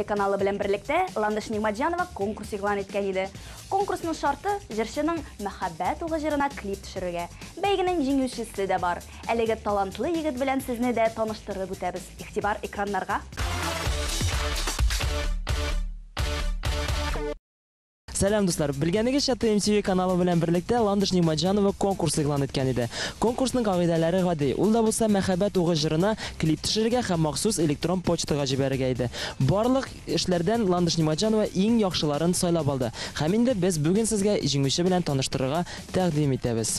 Каналы белән берлектә Ландыш Нигъмәтҗанова конкурс игълан иткән иде. Конкурсның шарты, җырчының Мәхәббәт угы җырына клип төшерергә. Бәйгенең җиңүчесе дә бар. Әлеге талантлы егет белән сезне дә таныштырып үтәбез. Игътибар экраннарга! Сәлам, дуслар! Белгәнегезчә, TMTV каналы белән берлектә Ландыш Нигъмәтҗанова конкурс игълан иткән иде. Конкурсның кагыйдәләре гади, ул да булса Мәхәббәт угы җырына клип төшерергә һәм махсус электрон почтага җибәрергә иде. Барлык эшләрдән Ландыш Нигъмәтҗанова иң яхшыларын сайлап алды. Һәм инде без бүген сезгә җиңүче белән таныштырырга тәкъдим итәбез.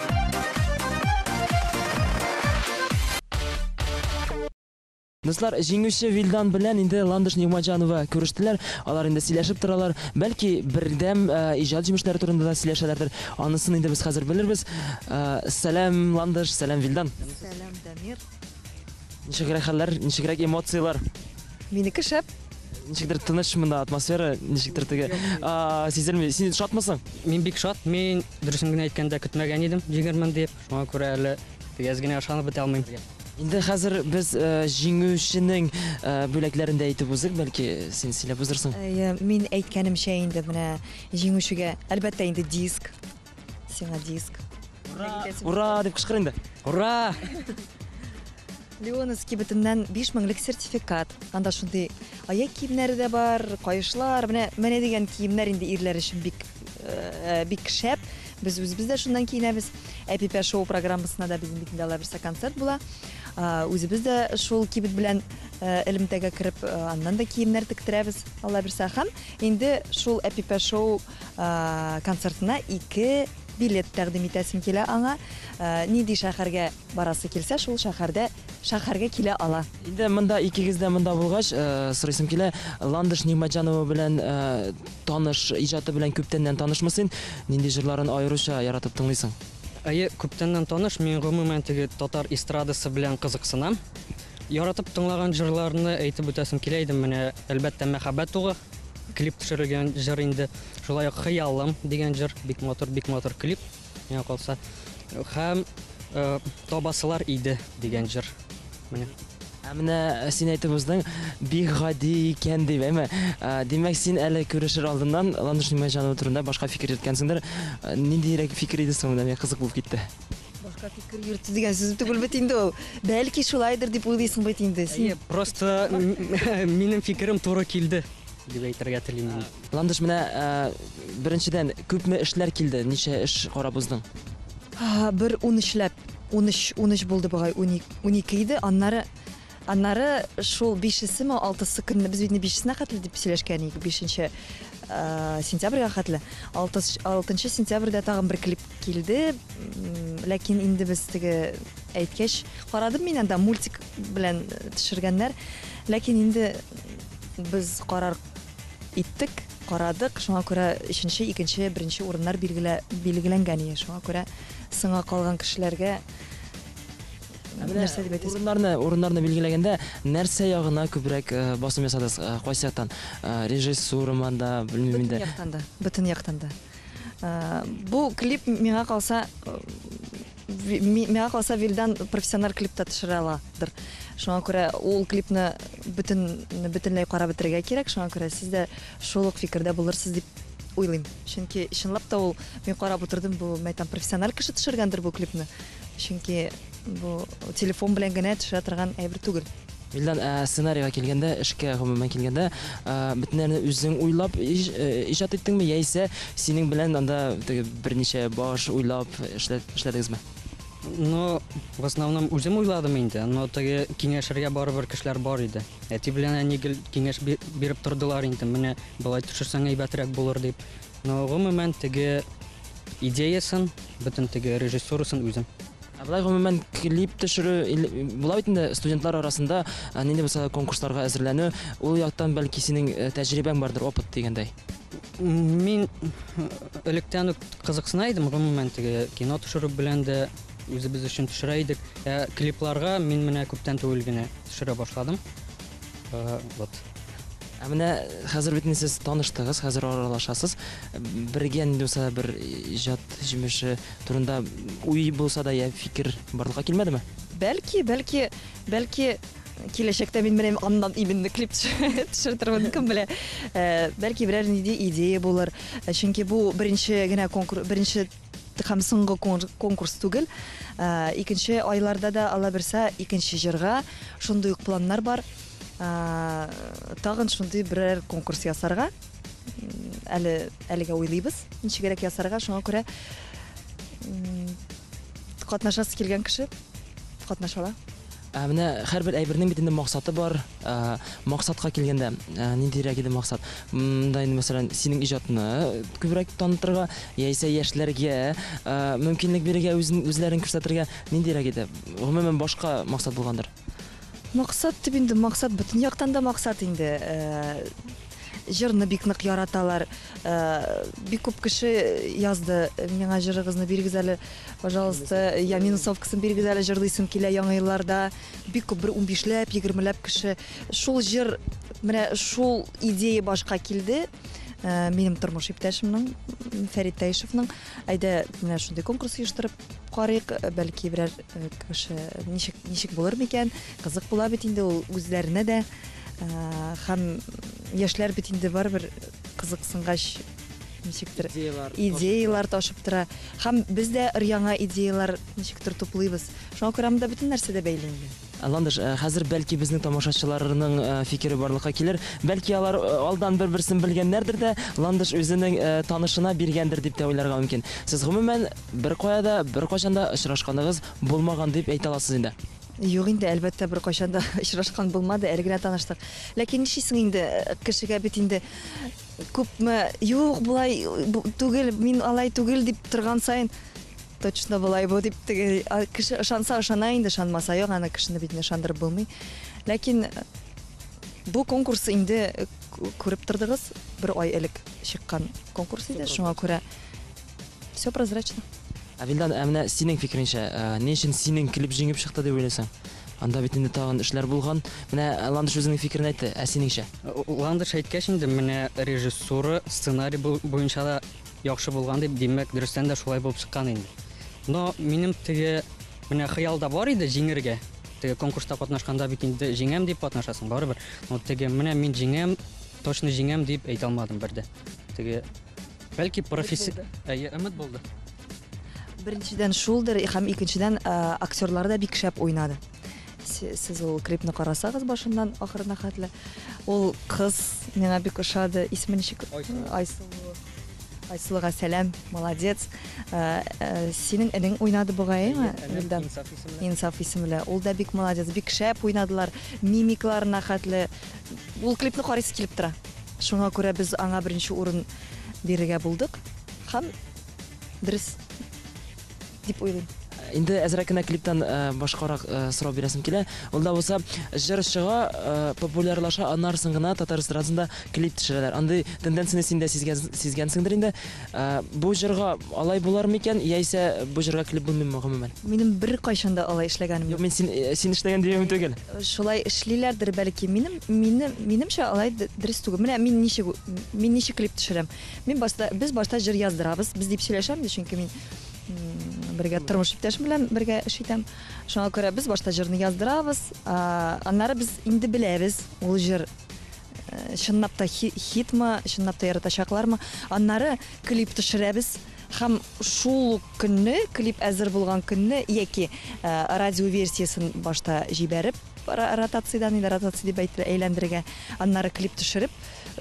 Дуслар, җиңүче Вилдан белән инде Ландыш Нигмаҗанова күрештеләр. Алар инде сөйләшеп торалар. Бәлки бердәм э, иҗат җимешләре турында да сөйләшәләрдер. Анысын инде без хәзер белербез. Э, Сәлам Ландыш, сәлам Вилдан. Сәлам, Дамир. Ничегрәк хәлләр, ничегрәк эмоцияләр? Минеке шәп. Ничектер тыныч монда атмосфера, ничектер теге а, сизелми. Син шатмысың? Мин бик шат. Мин дөресен генә әйткәндә көтмәгән идем, җиңермен дип. Шуңа күрә әле тигез генә ышанып бетә алмыйм. Инде хәзер без э, җиңүченең э, бүләкләрен дә әйтеп узык, бәлки син сөйләп узырсың. Әйе, мин әйткәнемчә инде менә җиңүчегә әлбәттә инде диск, Сиңа диск. Ура! Ура! дип кычкыр инде. Ура! Леоновский бөтеннән 5 меңлек сертификат. Анда шундый аяк киемнәре дә бар, каешлар, менә менә дигән киемнәр инде ирләр өчен бик э, бик шәп. Без үзебез дә шуннан киенәбез. Әпипә шоу программасына да безнең бит инде алла бирсә концерт була. Э, Үзебез дә шул кибет белән э, элемтәгә кереп, э, аннан да киемнәр тектерәбез, алла бирсә. Һәм инде шул Әпипә шоу концертына ике билет тәкъдим итәсем килә аңа. Нинди шәһәргә барасы килсә, шул шәһәрдә шәһәргә килә ала. Инде монда икегез дә монда булгач, сорыйсым килә, Ландыш Нигъмәтҗанова белән таныш, иҗаты белән күптәннән танышмы син? Нинди җырларын аеруча яратып тыңлыйсың? Әйе, күптәннән таныш. Мин гомумән теге татар эстрадасы белән кызыксынам. Яратып тыңлаган җырларны әйтеп үтәсем килә иде, менә, әлбәттә, Мәхәббәт угы. Клип төшерелгән җыр инде. Шулай ук Хыялым дигән җыр, бик матур, бик матур клип. Миңа калса. Һәм э, Табасылар иде дигән җыр. Менә. Ә менә син әйтеп уздың, бик гади икән дип, әйме? Ә, Димәк, син әле күрешер алдыннан Ландыш Нигъмәтҗанова турында башка фикер йөрткәнсеңдер. Ә, Ниндиерәк фикер иде соң, менә миңа кызык булып китте. Башка фикер йөртте дигән сүз түгел бит инде ул. Бәлки шулайдыр дип уйлыйсың бит инде. Әйе, просто минем фикерем туры килде дип әйтергә телим мин. Ландыш менә э, беренчедән күпме эшләр килде? Ничә эш карап уздың? Бер 13 ләп, 13, 13 булды бугай, 12 иде. Аннары Аннары шул бишесеме, алтысы көнне, без бит бишесенә хәтле дип сөйләшкән идек, бишенче сентябрьгә хәтле. Алтынчы сентябрьдә тагын бер клип килде, ләкин инде без теге әйткәч, карадым мин анда мультик белән төшергәннәр, ләкин инде без карар иттек, карадык, шуңа күрә өченче, икенче, беренче урыннар билгеләнгән иде, шуңа күрә соңга калган кешеләргә Ә менә нәрсә дип әйтәсез? Урыннарны, урыннарны билгеләгәндә нәрсә ягына күбрәк э, басым ясадыгыз? Э, Кайсы яктан? Э, Режиссурама да, белмим инде. Бөтен яктан да. Бөтен яктан да. Э, Бу клип миңа калса э, ви- ми- миңа калса Вилдан профессиональ клип та төшерә аладыр. Шуңа күрә ул клипны бөтен бөтенләй карап бетерергә кирәк. Шуңа күрә сез дә шул ук фикердә булырсыз дип уйлыйм. Чөнки чынлап та ул мин карап утырдым, бу мәйтәм профессиональ кеше төшергәндер бу клипны. чөнки бу телефон белән генә төшә торган әйбер түгел. Вилдан, ә сценарийга килгәндә, эшкә гомумән килгәндә, ә, бөтен нәрсәне үзең уйлап иж, э, иҗат иттеңме яисә синең белән анда теге берничә баш уйлап эшлә- эшләдегезме? Ну, в основном үзем уйладым инде, но теге киңәшергә барыбер кешеләр бар иде. Әти белән әни гел киңәш би- биреп тордылар инде, менә болай төшерсәң әйбәтрәк булыр дип. Ну, гомумән, теге идеясын, бөтен теге режиссурасын үзем. Ә болай гомумән клип төшерү, була бит инде студентлар арасында нинди булса конкурсларга әзерләнү, ул яктан бәлки синең э, тәҗрибәң бардыр, опыт дигәндәй. Мин э, электән үк кызыксына идем, гомумән теге кино төшерү белән дә үзебез өчен төшерә идек. Ә клипларга мин менә күптән түгел генә төшерә башладым. Э, вот. Ә менә хәзер бит сез таныштыгыз, хәзер аралашасыз. Бергә нинди булса бер иҗат җимеше турында уй булса да я фикер барлыкка килмәдеме? Бәлки, бәлки, бәлки киләчәктә мин менә аннан именно клип төшертермен, кем белә. Э, бәлки берәр нинди идея булыр. Э, чөнки бу беренче генә конкурс, беренче Һәм соңгы конкурс түгел, икенче айларда да алаберса икенче җырга шундый ук планнар бар. Тагын шундый берәр конкурс ясарга әле әлегә уйлыйбыз. Ничегрәк ясарга, шуңа күрә катнашасы килгән кеше катнаша ала. Ә менә һәрбер әйбернең бит инде максаты бар. Ә, максатка килгәндә, ә, ниндирәк иде максат? М, Да инде мәсәлән, синең иҗатны күбрәк танытырга, яисә яшьләргә ә, мөмкинлек бирергә үзен үзләрен күрсәтергә ниндирәк иде? Гомумән башка максат булгандыр. Максат дип инде максат бөтен яктан да максат инде. Ә, Җырны бик нык яраталар. Э, бик күп кеше язды, миңа җырыгызны бирегез әле, пожалуйста, я минусовкасын бирегез әле, җырлыйсым килә яңа елларда. Бик күп, бер унбишләп, егермеләп кеше. Шул җыр, менә шул идея башка килде. Э, минем тормыш иптәшемнең, Фәрит Таишевның, әйдә, менә шундый конкурс оештырып, Карыйк, бәлки берәр кеше ничек ничек булыр микән? Кызык була бит инде ул үзләренә дә. Хәм яшьләр бит инде барыбер кызыксынгач ничектер идеялар идеялар ташып тора. Хәм без дә яңа идеялар ничектер туплыйбыз. Шуңа күрә монда бөтен нәрсә дә бәйле инде. Ландыш, хәзер бәлки безнең тамашачыларның фикере барлыкка килер. Бәлки алар алдан бер-берсен белгәннәрдер дә, Ландыш үзенең танышына биргәндер дип тә уйларга мөмкин. Сез гомумән Беркая да, беркайчан да очрашканыгыз булмаган дип әйтә аласыз инде? Юк инде, әлбәттә, бер кайчан да очрашкан булмады, әле генә таныштык. Ләкин нишлисең инде, э, кешегә бит инде күпме юк болай түгел, мин алай түгел дип торган сайын точно болай бу дип теге кеше ышанса ышана инде, ышанмаса юк, аны кешене бит ышандырып булмый. Ләкин бу конкурс инде э, күреп тордыгыз, бер ай элек чыккан конкурс иде, шуңа күрә Все прозрачно. Ә Вилдан, ә менә синең фикереңчә, ә, ни өчен синең клип җиңеп чыкты дип уйлыйсың? Анда бит инде тагын эшләр булган. Менә ә, Ландыш үзенең фикерен әйтте, ә синеңчә? Ландыш әйткәч инде менә режиссура, сценарий бу- буенча да яхшы булган дип, димәк, дөрестән дә шулай булып чыккан инде. Но минем теге менә хыялда бар иде җиңергә. Теге конкурста катнашканда бит инде җиңәм дип катнашасың барыбер. Но теге менә мин җиңәм, точно җиңәм дип әйтә алмадым бер дә. Теге Бәлки професси... Әйе, өмет булды. Беренчедән шулдыр, һәм икенчедән э, актерлар да бик шәп уйнады. Сез ул клипны карасагыз башыннан ахырына хәтле. Ул кыз миңа бик ошады. Исеме ничек? Айсылу. Айсылуга сәлам, молодец. Э, э, синең энең уйнады бугайымы? Илдан. Инсаф исемле. Ул да бик молодец, бик шәп уйнадылар. Мимикларына хәтле Ул клипны карыйсы килеп тора. Шуңа күрә без аңа беренче урын бирергә булдык һәм дөрес дип уйлыйм. Инде әзрәк кенә клиптан э, башкарак э, сорау бирәсем килә. Ул да булса, җыр чыга, э, популярлаша, аннарсын гына татар эстрадасында клип төшерәләр. Андый тенденцияне син дә сизгәнсеңдер инде. Бу җырга алай булар микән, яисә бу җырга клип булмыймы гомумән? Минем бер кайчан да алай эшләгәнем юк. Мин син син эшләгән дигән түгел. Шулай эшлиләрдер, бәлки. Минем, мине, минемчә, алай дөрес түгел. Менә мин ничек, мин ничек клип төшерәм. Мин башта, без башта җыр яздырабыз. Без дип сөйләшәм дә, чөнки мин бергә тормыш иптәшем белән бергә эш итәм. Шуңа күрә без башта җырны яздырабыз, аннары без инде беләбез, ул җыр Чынлап та хитмы, чынлап та яратачаклармы? Аннары клип төшерәбез һәм шул ук көнне, клип әзер булган көнне яки радио версиясен башта җибәреп, ротациядән, инде ротация дип әйтелә, әйләндерергә, аннары клип төшереп,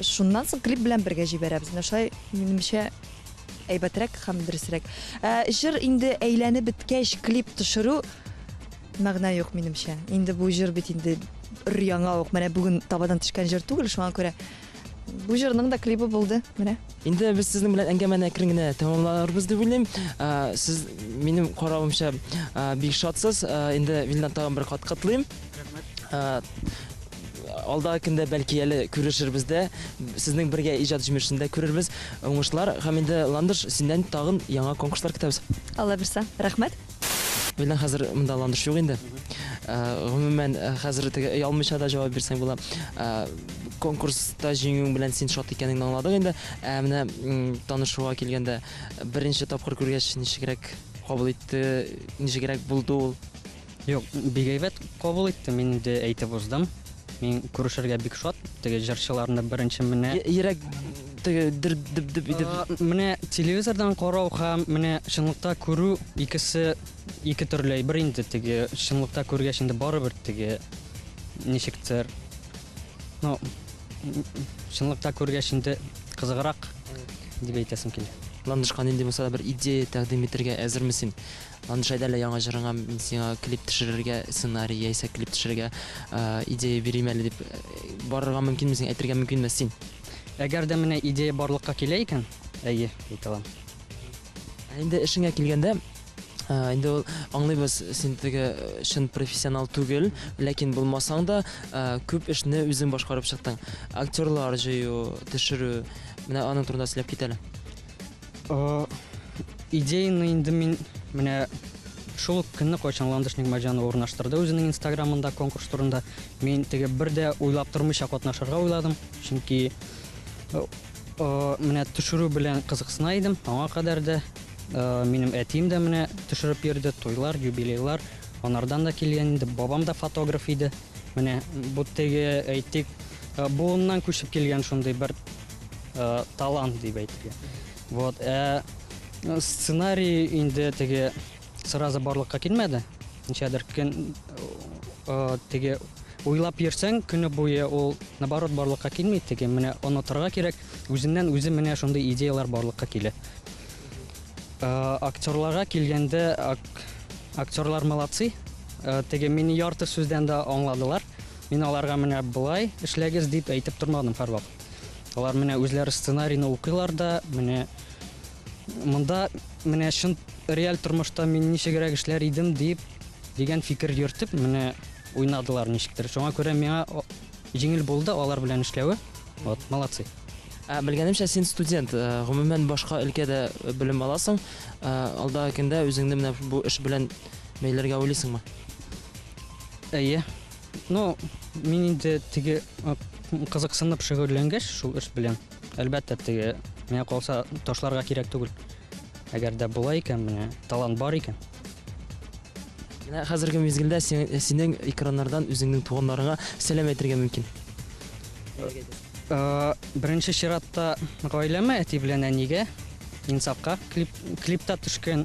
шуннан соң клип белән бергә җибәрәбез. Менә шулай, минемчә, әйбәтрәк һәм дөресрәк. Җыр инде әйләнеп беткәч, клип төшерү Мәгънә юк, минемчә. Инде бу җыр бит инде өр-яңа ук, менә бүген табадан төшкән җыр түгел, шуңа күрә бу җырның да клибы булды, менә. Инде без сезнең белән әңгәмәне әкрен генә тәмамларбыз дип уйлыйм. Ә, Сез минем каравымча ә, бик шатсыз. Ә, Инде Вильдан тагын бер кат котлыйм. Ә, Алдагы көндә бәлки әле күрешербез дә, сезнең бергә иҗат җимешен дә күрербез. Уңышлар һәм инде Ландыш, синнән тагын яңа конкурслар көтәбез. Алла бирса. Рәхмәт. Менә хәзер монда ландыш юк инде. Э, гомумән, э, хәзер теге өй алмыйча да җавап бирсәң була. Э, конкурста җиңүең белән син шат икәнеңне аңладык инде. Ә менә танышуга килгәндә, беренче тапкыр күргәч, ничегрәк кабул итте, ничегрәк булды ул? Юк, бигәйбәт кабул итте, мин инде әйтеп уздым. Мин күрешергә бик шат, теге җырчыларны беренче менә. Йөрәк теге дер дип дип итеп. Менә телевизордан карау һәм менә чынлыкта күрү икесе ике төрле әйбер инде, теге чынлыкта күргәч инде барыбер теге ничектер. Ну, чынлыкта күргәч инде кызыграк дип әйтәсем килә. Ландышка нинди булса да бер идея тәкъдим итәргә әзерме син? Анжай дәлә яңа җырыңа мин сиңа клип төшерергә сценарий яисә клип төшерергә идея бирим әле дип барырга мөмкинме син әйтергә мөмкинме син Әгәр дә менә идея барлыкка килә икән, әйе, әйтә алам. Ә инде эшеңә килгәндә, инде ул аңлыйбыз, син теге чын профессионал түгел, ләкин булмасаң да, күп эшне үзең башкарып чыктың. Актерлар җыю, төшерү, менә аның турында сөйләп кит әле. Идеяны инде мин менә шул ук көнне кайчан ландыш нигматҗанова урнаштырды үзенең инстаграмында конкурс турында мин теге бер дә уйлап тормыйча катнашырга уйладым чөнки э, э, менә төшерү белән кызыксына идем аңа кадәр дә э, минем әтием дә менә төшереп йөрде туйлар юбилейлар анардан да килгән инде бабам да фотограф иде менә бу теге әйтик буыннан күчеп килгән шундый бер э, талант дип әйтергә. Вот, ә э, сценарий инде теге сразу барлыкка килмәде. Ничәдер көн э, теге уйлап йөрсәң көне буе ул наоборот барлыкка килми теге менә онытырга кирәк. Үзеннән үзе менә шундый идеялар барлыкка килә. Э, актерларга килгәндә ак, актерлар молодцы. Э, теге мине ярты сүздән дә аңладылар. Мин аларга менә болай эшләгез дип әйтеп тормадым һәрвакыт. Алар менә үзләре сценарийны укыйлар да, менә монда менә чын реаль тормышта мин ничегрәк эшләр идем дип дигән фикер йөртеп менә уйнадылар ничектер. Шуңа күрә миңа җиңел булды алар белән эшләве. Вот, молодцы. Ә белгәнемчә син студент, э, гомумән башка өлкәдә белем аласың. Э, алдагы көндә үзеңне менә бу эш белән бәйләргә уйлыйсыңмы? Әйе. Ну, мин инде теге кызыксынып шөгыльләнгәч шул эш белән, әлбәттә, теге миңа калса ташларга кирәк түгел. Әгәр дә була икән, менә талант бар икән. Менә хәзерге мизгелдә синең экраннардан үзеңнең туганнарыңа сәлам әйтергә мөмкин. Беренче чиратта гаиләмә, әти белән әнигә, Инсафка клип, клипта төшкән